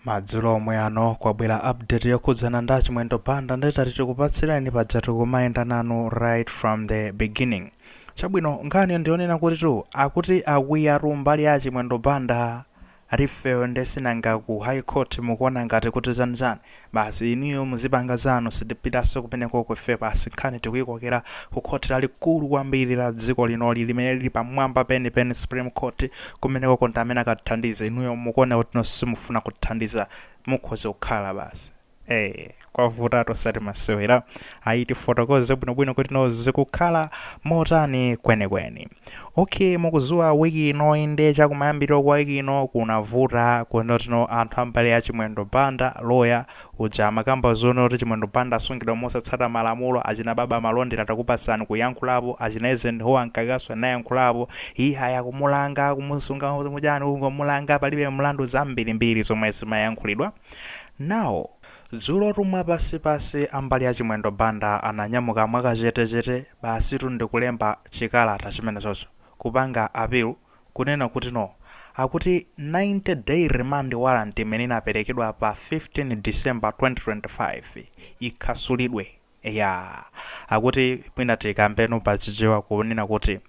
Madzulo omwe ano kwabwera update yokhudzana ndi a Chimwendo Banda nde tati tikupatsireni pajatu tikumayenda nanu right from the beginning. Chabwino nkhaniyo ndiyonena kuti tu akuti akwiyatu mbali ya a Chimwendo Banda ifeyo nde si nanga ku High Court mukuona ngati kuti zanizani Basi inuyo muzipanga zanu sitipitanso kumenekoko ife basi nkhani tikuyikokera ku khoti lalikulu kwambiri la dziko linoli limene lili pamwamba penipeni supreme court kumenekoko ndi amene akathandize inuyo mukuoneka kuti no simufuna kuthandiza mukhoza kukhala basi ee kwavutatu osati masewera ayi tifotokoze bwinobwino kuti no zikukhala motani kwenikweni. Ok mukuziwa week inoyi nde chakumayambiriro kwa week ino kunavuta kuti no anthu ambali ya Chimwendo Banda lawyer uja amakamba zonena kuti Chimwendo Banda asungidwa mosatsata malamulo achina Baba Malondera takupatsani kuyankhulapo achina Eisenhower Mkakanso anayankhulapo iyayi akumulanga akumusunga mujani kungomulanga palibe mlandu zambirimbiri zomwe zimayankhulidwa now Dzulotu mwapansipansi ambali a Chimwendo Banda ananyamuka mwakachetechete basitu ndikulemba chikalata chimenechocho, kupanga appeal kunena kuti no. Akuti 90 day remand warrant imene inaperekedwa pa 15 December 2025 ikhasulidwe. Eya. Akuti mwina tikambeno pa chichewa kunena kuti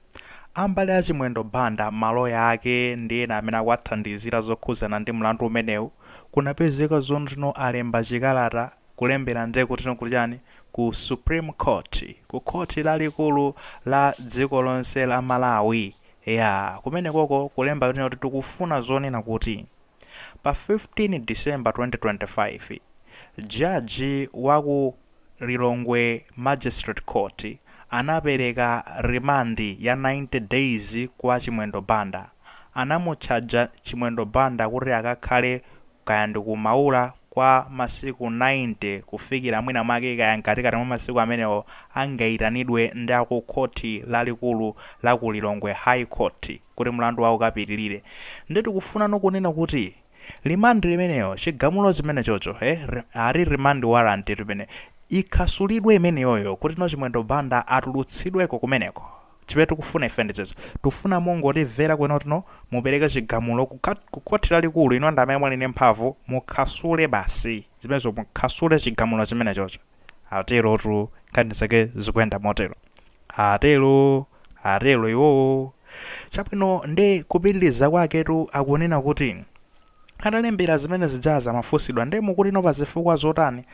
ambali a Chimwendo Banda, maloya ake ndi ena amene akuwathandizira zokhudzana ndi mlandu umenewu, kunapezeka zoti no alemba chikalata kulembera ndiye kuti no kuchani, ku Supreme Court, ku khoti lalikulu la dziko lonse la Malawi. Eya. Kumenekoko kulemba kunena kuti tikufuna zonena kuti. Pa 15 December 2025, Jaji wa ku Lilongwe Magistrate Court anapereka rimandi ya 90 days kwa Chimwendo Banda. Anamutchaja Chimwendo Banda kuti akakhale kaya ndi ku Maula kwa masiku 90 kufikira mwinamwake kaya mkatikati mwa masiku amenewo angaitanidwe ndi a ku Khoti Lalikulu la ku Lilongwe, High Court, kuti mlandu wawo ukapitirire. Ndiye tikufunano kunena kuti remand limenelo, chigamulo chimenechocho, eh, ali remand warrant limene, ikhasulidwe imeneyoyo kuti no Chimwendo Banda atulutsidweko kumeneko. Chimene tikufuna ife ndi izo. Tikufuna mungotimvera kunena kuti no, mupereke chigamulo ku, ku Khoti Lalikulu, inu ndi amene muli ndi mphamvu, mukhasule basi zimenezo, mukhasule chigamulo chimenechocho. Aterotu, nkhani zake zikuyenda motero. Atero, atero iwowo. Chabwino, ndiye kupitiriza kwaketu akunena kuti, atalembera zimene zija zimafunsidwa nde mukuti no pazifukwa zotani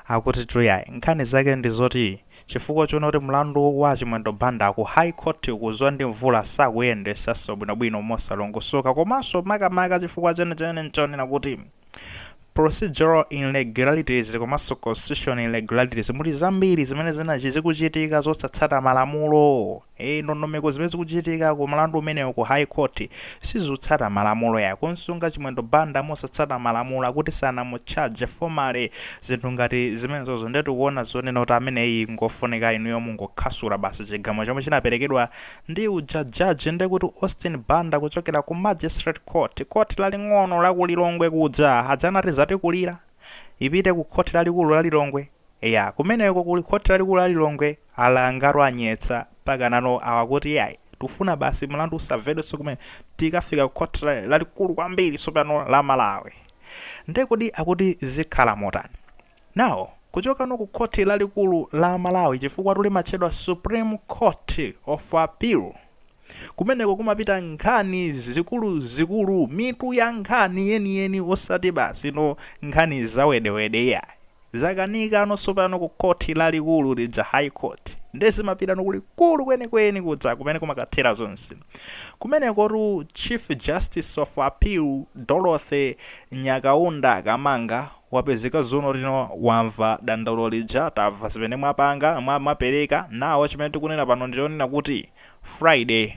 akutitu yayi nkhani zake ndi zoti chifukwa choona kuti mlandu wa a Chimwendo Banda ku High Court kudzwa ndi Mvula sakuyendesanso bwinobwino mosalongosoka komanso makamaka chifukwa chenicheni nchonena kuti procedural irregularities komanso constitutional irregularities muli zambiri zimene zinachi zikuchitika zosatsata malamulo Eee ndondomeko zimene zikuchitika ku mlandu umenewo ku high court sizotsata malamulo ya kumsunga Chimwendo Banda mosatsata malamulo akuti sanamutchaje formally zinthu ngati zimenezozo nde tikuona zonena kuti ameneyi ngofunika inuyo mungokhasula basi chigamulo chomwe chinaperekedwa ndi uja judge ndekuti Austin Banda kuchokera ku magistrate court, court laling'ono la ku Lilongwe kuja aja adzanati zatikulira ipite ku court lalikulu la Lilongwe. Eya kumeneko kuli khoti lalikulu la Lilongwe alangatu anyetsa mpaka nano awa akuti iyayi tikufuna basi mlandu usavedwenso kumene tikafika ku khoti lalikulu kwambiri tsopano la Malawi. Nde kodi akuti zikhala motani? Now kuchokano ku khoti lalikulu la Malawi chifukwatu limatchedwa Supreme Court of Appeal kumeneko kumapita nkhani zikuluzikulu mitu ya nkhani yeniyeni osati basi no nkhani zawedewede iyayi. Zakanikano sopano ku khoti lalikulu lija, High Court, nde zimapitano kulikulu kwenikweni kuja kumene kumakathera zonse. Kumenekotu Chief Justice of Appeal Dorothy Nyakaunda Kamanga wapezeka dzulo lino wamva dandaulo lija, tava zimene mwapanga, mwa, mwapereka, now chimene tikunena pano ndichonena kuti Friday,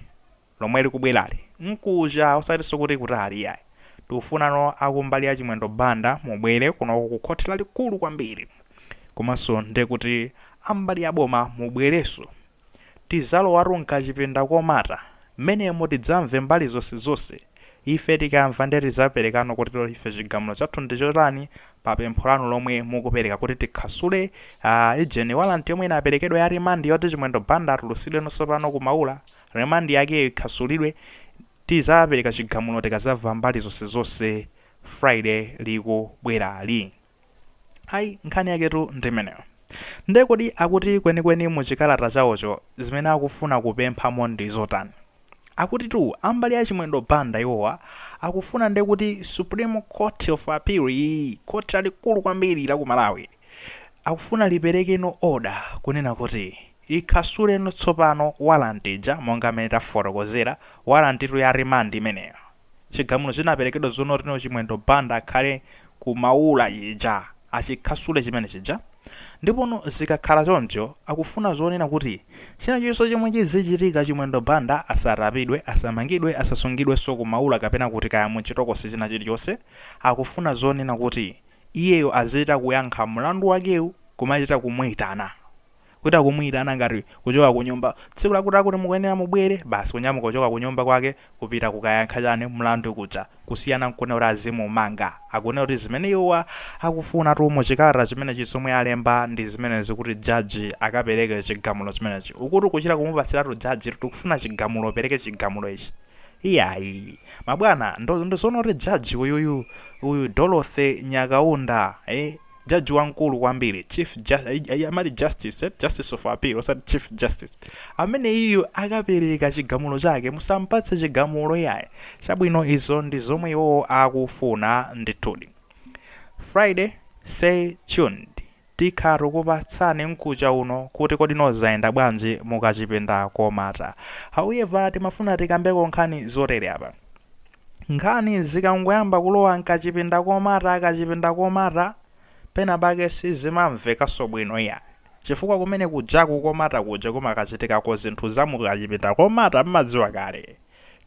lomwe likubwerali nkuja osatiso kuti kutali iyayi tikufunano akumbali ya chimwendo banda mubwere kunoko ku khothi lalikulu kwambiri komanso ndekuti ambali ya boma mubwereso tizalowatu mkachipinda komata menemo tidzamve mbali zonse zonse ife tikamva nde tizaperekano kuti ife chigamulo chathu ndichotani pa pempho lanu lomwe mukupereka kuti tikhasule ujeni warrant yomwe inaperekedwa ya remand yoti chimwendo banda atulusidweno sopano ku maula Remand yake ikhasulidwe tizapereka chigamulo tikazava mbali zonsezonse Friday likubwerali. Ayi nkhani yaketu ndimeneyo. Nde kodi akuti kwenikweni mu chikalata chawocho zimene akufuna kupemphamo ndizotani? Akutitu ambali ya Chimwendo Banda iwowa akufuna ndekuti Supreme Court of Appeal iyi, Court lalikulu kwambiri la ku Malawi, akufuna liperekeno order kunena kuti ikhasuleno tsopano warrant ija monga mmene tafotokozera, warrant tu ya remand imeneyo, chigamulo chinaperekedwa zonena kutino Chimwendo Banda akhale ku Maula chija achikhasule chimene chija, ndipono zikakhala choncho akufuna zonena kuti chinachilichonse chomwe chizichitika Chimwendo Banda asatapidwe, asamangidwe, asasungidwenso ku Maula kapena kuti kaya munchitokosi chinachilichonse akufuna zonena kuti iyeyo azichita kuyankha mlandu wakewu kumachita kumuitana. Kuchita kumuitana ngati kuchoka kunyumba, tsiku lakutilakuti mukuyenera mubwere, basi kunyamuka kuchoka kunyumba kwake kupita kukayankha chani, mlandu kuja. Kusiyana n'kunena kuti azimumanga. Akunena kuti zimene iwowa akufunatu mu chikalata chimenechi zomwe alemba ndi zimenezi kuti jaji akapereke chigamulo chimenechi. Ukuti kuchita kumupatsiratu jaji tikufuna chigamulo upereke chigamulo ichi. Iyayi mabwana ndi zoona kuti judge uyuyu uyu Dorothy Nyakaunda eh judge wamkulu kwambiri chief ju, eh, amati justice eh, justice of appeal osati chief justice amene iyu akapereka chigamulo chake musampatse chigamulo iyayi chabwino izo ndi zomwe iwowo akufuna ndithudi Friday stay tuned Tikhala tikukupatsani mkucha uno kuti kodi no zayenda bwanji mukachipinda komata. However timafuna tikambeko nkhani zotere apa. Nkhani zikangoyamba kulowa mkachipinda komata kachipinda komata pena pake sizimamvekanso bwino iyayi. Chifukwa kumene kujaku komata kuja kumakachitikako zinthu za mukachipinda komata mmadziwa kale.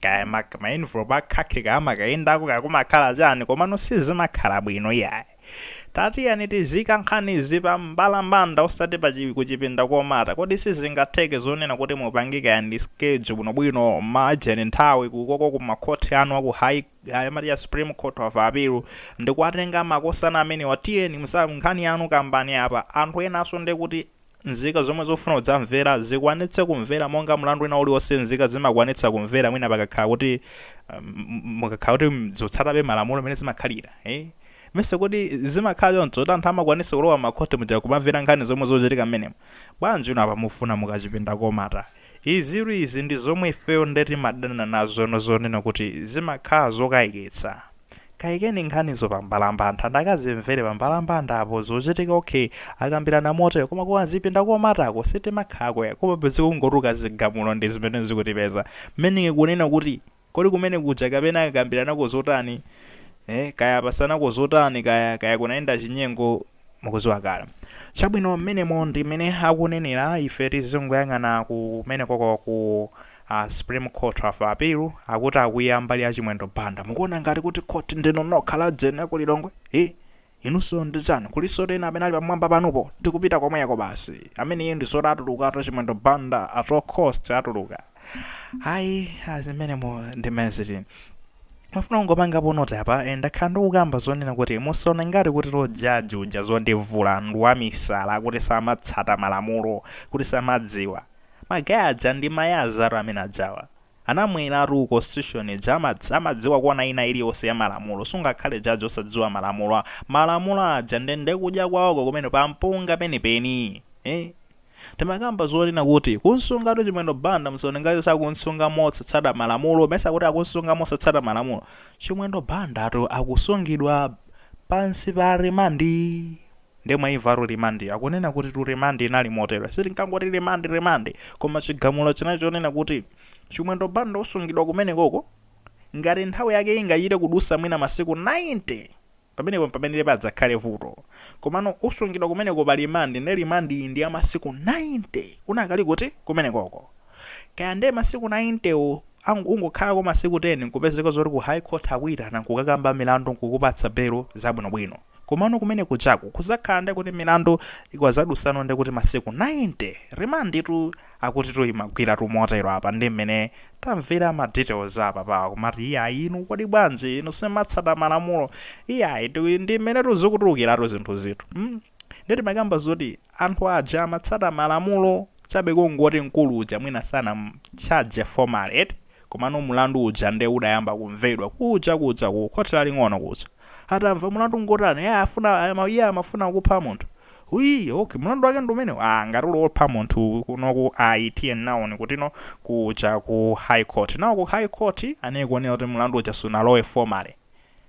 Kaya ma ma envelope a khakhi kaya amakayendako kaya kumakhala chani komano sizimakhala bwino iyayi. Tatiyeni tiziika nkhanizi pa mbalambanda osati pa chi kuchipinda komata. Kodi sizingatheke zonena kuti mupange kaya ndi schedule bwino bwino, margin, nthawi kukoko ku ma court anu aku high ayi amati cha supreme court of appeal ndikuwatenga makosana amenewa tiyeni muyitsa nkhani yanu kambani apa anthu enanso ndekuti Nzika zomwe zofuna kudzamvera zikwanitse kumvera monga mlandu wina uliwonse nzika zimakwanitsa kumvera mwina pakakhala kuti um, mukakhala kuti zotsatabe malamulo mmene zimakhalira eh? ndimayesa kuti zimakhala choncho kuti anthu amakwanitsa kulowa makhoti muja kumamvera nkhani zomwe zochitika mmenemo bwanji inu apa mufuna mukachipinda komata izitu izi ndi zomwe ifeyo nde timadana nazono zonena kuti zimakhala zokayikitsa Kaikeni nkhanizo pa mbalambanda anthu akazimvere pa mbalambanda apo zochitika ok akambirana motero koma ku kazipinda komatako sitimakhalako ayi koma basi kungotuluka zigamulo ndi zimene zikutipeza mmene kunena kuti kodi kumene kuja kapena akakambiranako zotani eh kaya apasanako zotani kaya kaya kunayenda chinyengo mukuziwa kale chabwino mmenemo ndi mmene akunenera ife tizingoyang'ana kumene koko ku A Supreme Court of Appeal akuti akwiya mbali ya Chimwendo Banda. Mukuona ngati kuti court ndinu nokha ya ku Lilongwe? Hi! Inunso ndi ndani. Kulisotu ena amene ali pamwamba panupo. Tikupita komweko basi. Ameneyo ndi zoti atulukatu Chimwendo Banda at all costs atuluka. Ayi, azimenemo ndi message. Mafuna kungopangapo noti apa ndakhala ndikukamba zonena kuti musaone ngati kuti jaji uja zondivula ndi wamisala kuti samatsata malamulo kuti samadziwa. Ma guy aja ndi ma lawyers tu amene ajawa. Anamweratu constitution ija amadz amadziwa kona ina iliyonse ya malamulo sungakhale judge osadziwa malamulo a malamulo aja nde kudya kwawoko kumeneko pampunga penipeni eh Timakamba zonena kuti kumsungatu Chimwendo Banda musaone ngati sakumsunga motsata malamulo mesa akuti akumsunga motsata malamulo Chimwendo Banda tu akusungidwa pansi pa remand. Nde mwaimvatu remand yo? Akunena kutitu remand inali motere, sitingangoti remand remand, koma chigamulo chinali chonena kuti Chimwendo Banda usungidwa kumenekoko ngati nthawi yake ingachite kudusa mwina masiku 90! Pamenepo mpamene padzakhale vuto. Komano usungidwa kumeneko pa remand nde remand yi ndi ya masiku 90! Unakali kuti? Kumenekoko. Kaya nde masiku 90 wo ang ungokhalako masiku 10 nkupezeka zoti ku High Court akuyitana nkukakamba milandu nkukupatsa belo zabwinobwino. Komano kumene kujaku kuzakhala ndi kuti milandu ikazadusano nde kuti masiku 90 remand tu akutitu imagwiratu motero apa ndi mmene tamvera ma details a apapawa kumati iyayi inu kodi bwanji inu simatsata malamulo iyayi ndi mmenetu zikutulukiratu zinthuzitu mm nde timakamba zoti anthu aja amatsata malamulo chabe kungoti mkulu uja mwina sanamcharge formally eti Komano mlandu uja nde udayamba kumvedwa kuja kuja ku khoti laling'ono kuja. Atamva mlandu ngotani? Eya afuna ama iye amafuna kupha munthu. Huyii ok mlandu wake ndi umenewu? Aaa ngati uli wopha munthu kunoku ayi tiye nawoni kutino kuja ku high court. Nawo ku high court anai kuonera kuti mlandu uja sunalowe formally.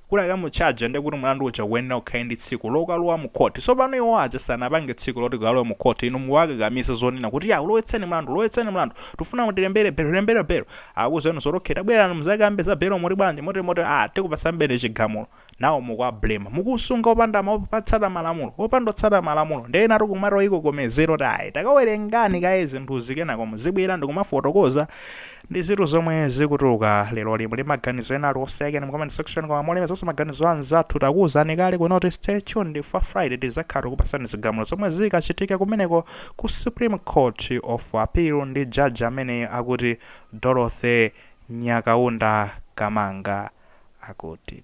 kuti akamutchaje nde kuti mulandu uja ukuyenera ukhale ndi tsiku lokalowa mu court sopano iwo aja sanapange tsiku loti kalowe mu court inu mukuwakakamiza zonena kuti ya ulowetseni mulandu ulowetseni mulandu tufuna mutilembere belo lembero belo akuzenu zoti okay tabwerani mudzakambe za belo muli bwanji moti moti a tikupatsani chigamulo nawo mukuwablema mukusunga opanda kutsata malamulo opanda kutsata malamulo nde ena akumatoyikokomeza ayi takawerengani kaye zinthuzi kenako muzibwera ndikumafotokoza Ndizitu zomwe zikutuluka leroli muli ndi maganizo ena aliwonse ayikeni mu comment section koma molemezaso maganizo anzathu takuwuzani kale kuno kuti stay tuned for Friday tizakhala tikupasani zigamulo zomwe zikachitike kumeneko ku Supreme Court of Appeal ndi judge ameneyo akuti Dorothy Nyakaunda Kamanga akuti.